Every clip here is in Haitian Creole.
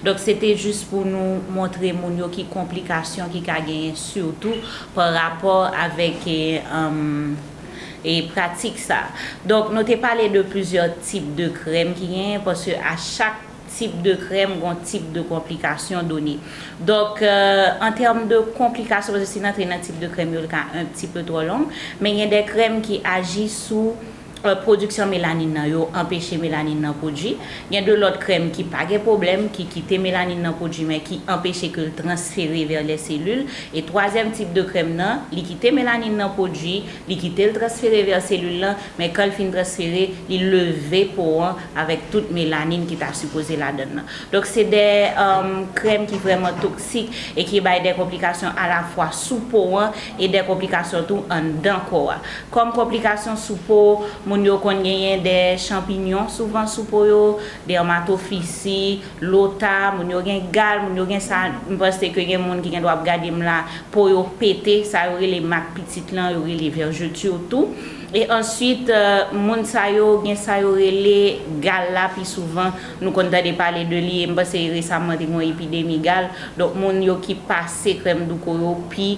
Donk se te jis pou nou montre moun yo ki konplikasyon ki ka genyen sitou pa rapò avèk pratik sa. Donk nou te pale de plizyè tip de krèm ki genyen paske a chak tip de krèm gon tip de konplikasyon done. Donk an tèm de konplikasyon paske si n antre nan tip de krèm yo li ka un pti peu twò long men gen de krèm ki aji sou pwodiksyon melanin nan yo anpeche melanin nan pwodui. Gen de lòt krèm ki pa gen pwoblèm, ki kite melanin nan pwodui men ki anpeche ke l transfere vè lè selil. E twazyèm tip de krèm nan, li kite melanin nan pwodui, li kite l transfere vè selil lan, men kan l fin transfere, li leve po an avèk tout melanin ki ta sipoze ladann nan. Donk se de krèm ki vrèman toksik e ki bay de konplikasyon alafwa sou po an e de konplikasyon tou anndan kò a. Kòm konplikasyon sou po, moun yo konn genyen dè chanpinyon souvan sou po yo, dèmatofisi, lota, moun yo gen gal, moun yo gen sa, m panse ke gen moun ki gendwa ap gade m la, po yo pete, sa yo rele mak pitit lan, yo rele vergeture tou. E answit, moun sa yo gen sa yo rele gal la pi souvan, nou konn tande pale de li, e m panse resamman te gen yon epidemi gal, donk moun yo ki pase krèm douko yo pi.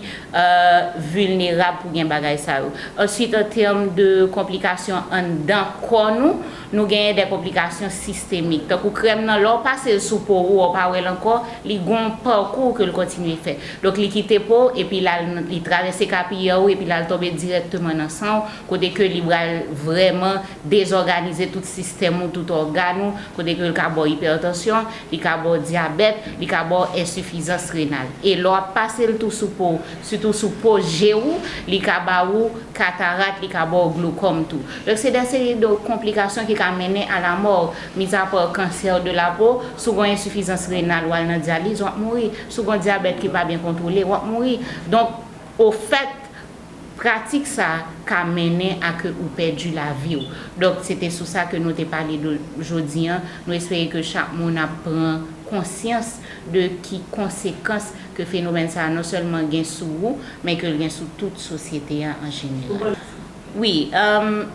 vilnerab pou gen bagay sa yo. Answit an tèm de konplikasyon anndan kò nou, nou genyen de konplikasyon sistemik. Tankou krèm nan lè w pase l sou po ou, ou pa wè l ankò, li gon pakou ke l kontinye fè. Donk li kite po w epi l al nan, li travèse kapiyè ou epi l al tonbe dirèkteman nan san w kote ke li bral vrèman dezòganize tout sistèm ou, tout ògàn ou, kote ke l ka ba w ipètansyon, Li ka ba w dyabèt, li ka ba w ensifizans renal. E lè w ap pase l tou sou po w, sitou sou po je ou, li ka ba ou katarat, li ka ba w glokòm tou. Donk se de seri de konplikasyon ki ka mennen a lamò. Mizapa kansè de la po, si w gen yon ensifizans renal w al nan dyaliz, w ap mouri. Si w gen yon dyabèt ki pa byen kontwole, w ap mouri. Donk ofèt. Pratik sa ka mennen a ke ou pèdi lavi w. Donk se te sou sa ke nou te pale de jodi an. Nou espere ke chak moun ap pran konsyans de ki konsekans ke fenomèn sa non sèlman gen sou ou, men ke l gen sou tout sosyete a an jeneral. Wi,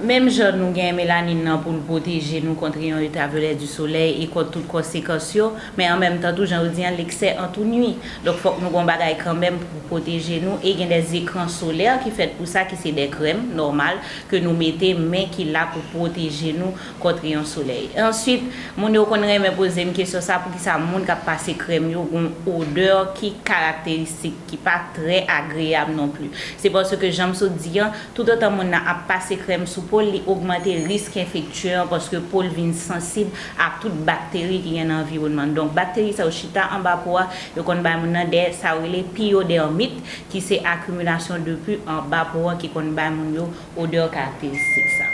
menm jan nou gen melanin nan pou l pwoteje nou kontre yon ultraviolet du soleil e kont tout konsekans yo, men an menm tan tou jan yo di an leksè an tou nwi. Donk fòk nou gon bagay kanmenm pou pwoteje nou e gen dè zekran solè ki fèt pou sa ki se dè krèm nòmal ke nou mete men ki la pou pwoteje nou kont reyon solèy. Answit, moun yo konn renmen poze m kesyon sa poukisa moun kap pase krèm yo gon odè ki karakteristik ki pa trè agreyab non pli. Se paske janm sot di an, tout otan moun nan ap pase krèm sou po l li ogmante risk enfektye an paske po l vin sansib ak tout bakteri ki gen nan anviwònman n. Donk, bakteri sa yo chita anba po a, yo konn bay moun nan dè sa yo rele piyodèrmit, ki se akimilasyon de pu anba po an ki konn bay moun yo odè karakteristik sa.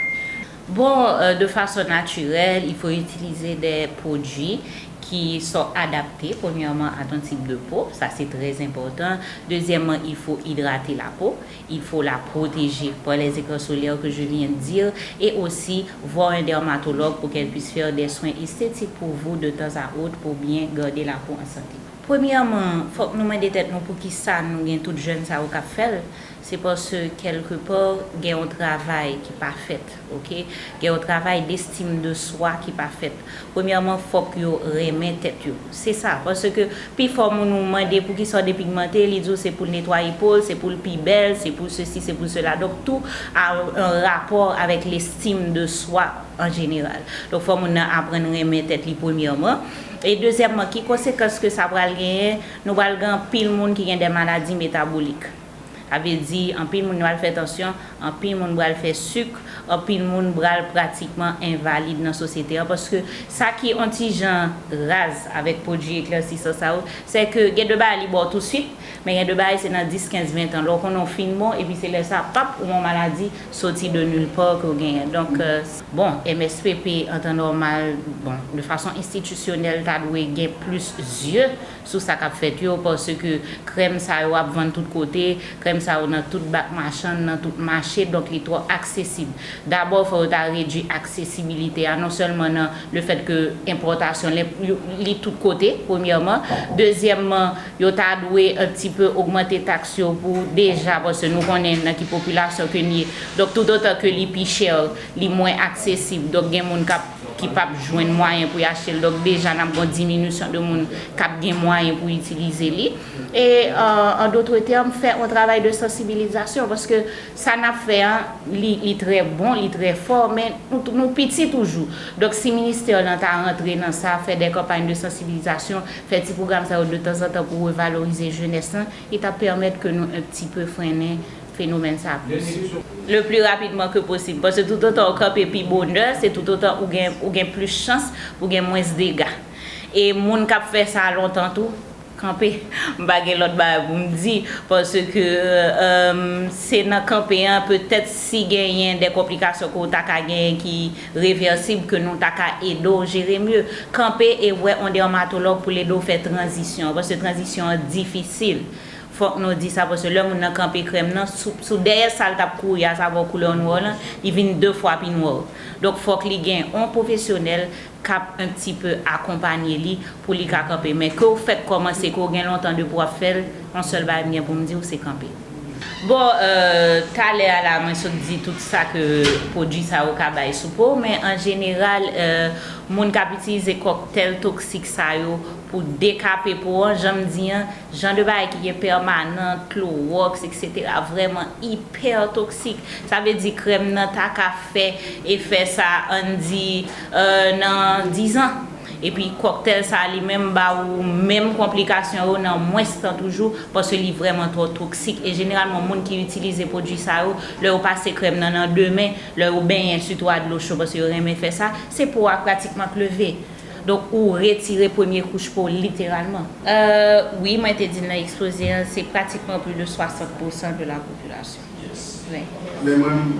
Bon, de fason natirèl, il fo itilize dè pwodui ki so adapte, premyèman a ton tip de po, sa se trè enpòtan, dezyèmman il fo idrate lapo, il faut la protéger par les écrans solaires que je viens dire et aussi voir un dermatologue pour qu'elle puisse faire des soins esthétiques pour vous de temps à autre pour bien garder la peau en santé. Premyèman, fòk nou mande tèt nou poukisa nou gen tout jèn sa yo k ap fè l, se paske kèlke pa gen yon travay ki pa fèt. Ok gen yon travay d'estime de soi ki pa fèt premyèman fòk yo renmen tèt yo se sa paske pifò moun ou mande poukisa w depigmante li di w se poul netwaye po l se pou l pi bèl se pou sesi se pou sela donk tou a an rapò avèk l'estime de soi an jeneral donk fò moun nan aprann renmen tèt li premyèman e dezyèmman ki konsekans ke sa pral genyen nou pral gen anpil moun ki gen dè maladi metabolik. Sa vle di anpil moun bral fè tansyon, anpil moun bral fè suk, anpil moun bral pratikman envalid nan sosyete an paske sa ki on ti jan raz avèk pwodui eklèsisan sa yo sè ke gen de bagay li ba w tou suit men gen de bagay se nan 10, 15, 20 tan lè w konnen w fin bon epi se lè sa pap ou on maladi soti de nul part ke w genyen donk bon MSPP an tan nòmal bon de fason enstitisyonèl ta dwe gen plis zye sou sa kap fèt yo paske krèm sa yo ap vann tout kote, krèm sa yo nan tout bak machann, nan tout mache donk li twò aksesib. Dabò fò yo ta redwi aksesibilite a non sèlman nan le fèt ke enpòtasyon li tout kote premyèman, dezyèmman yo ta dwe an ti pe ogmante taks yo pou deja paske nou konnen nan ki popilasyon ke n ye donk toutotan ke li pi chè li mwen aksesib donk gen moun kap. ki p ap jwenn mwayen pou y achte l, donk deja n ap gen yon diminisyon de moun k ap gen mwayen pou itilize li. E an dotre tèm, fè yon travay de sansibilizasyon, paske sa n ap fè an, li trè bon, li trè fò, men nou piti toujou. Donk si ministè w lan ta rantre nan sa, fè de kanpay de sansibilizasyon, fè ti pwogram sa yo detanzantan pou revalorize jenès lan, Ki ta pèmèt ke nou un pti peu frennen fenomèn sa plis. Le plus rapidement que possible. Paske tout otan ou kanpe pi bonè, se tout otan ou gen, ou gen plis chans pou gen mwens dega. E moun k ap fè sa lontan tou, kanpe. M pa gen lòt bagay pou m di. Paske, se nan kanpe an, petèt si genyen de konplikasyon ke ou ta ka genyen ki. Reversib ke nou ta ka ede w jere mye. Kanpe e wè on dermatologue pou l ede w fè tranzisyon an paske tranzisyon an difisil. Fòk nou di sa paske lè moun nan kanpe krèm nan sou sou dèyè sa l t ap kouri a sa ba w koulè w nwè w lan li vin 2 fwa pi nwè w. Donk fòk li gen on pwofesyonèl k ap un pti peu akonpanye li pou li ka kanpe. Men ke w fèk kòmanse ke w gen lontan depi w ap fè l, on sèl bagay m gen pou m di w se kanpe. Bon talè a la mwen sot di tout sa ke pwodwi sa yo ka bay sou po, men an jeneral moun kap itilize kòktèl toksik sa yo pou dekape po an, janm di an, jan de bagay ki gen pèmanant, klowòks etc. Vrèman ipè toksik. Sa vle di krèm nan ta ka fè efè sa ann di nan 10 ans. Epi kòktèl sa li menm ba ou menm konplikasyon yo nan mwens tan toujou paske li vrèman twò toksik e jeneralman moun ki itilize pwodui sa yo lè yo pase krèm nan nan demen lè yo benyen sitou a dlo cho paske yo renmen fè sa se po a pratikman k leve donk ou retire premye kouch po literalman. Euh wi mwen te di nan ekspoze an se pratikman pli de 60 pousan de la popilasyon. Yes men.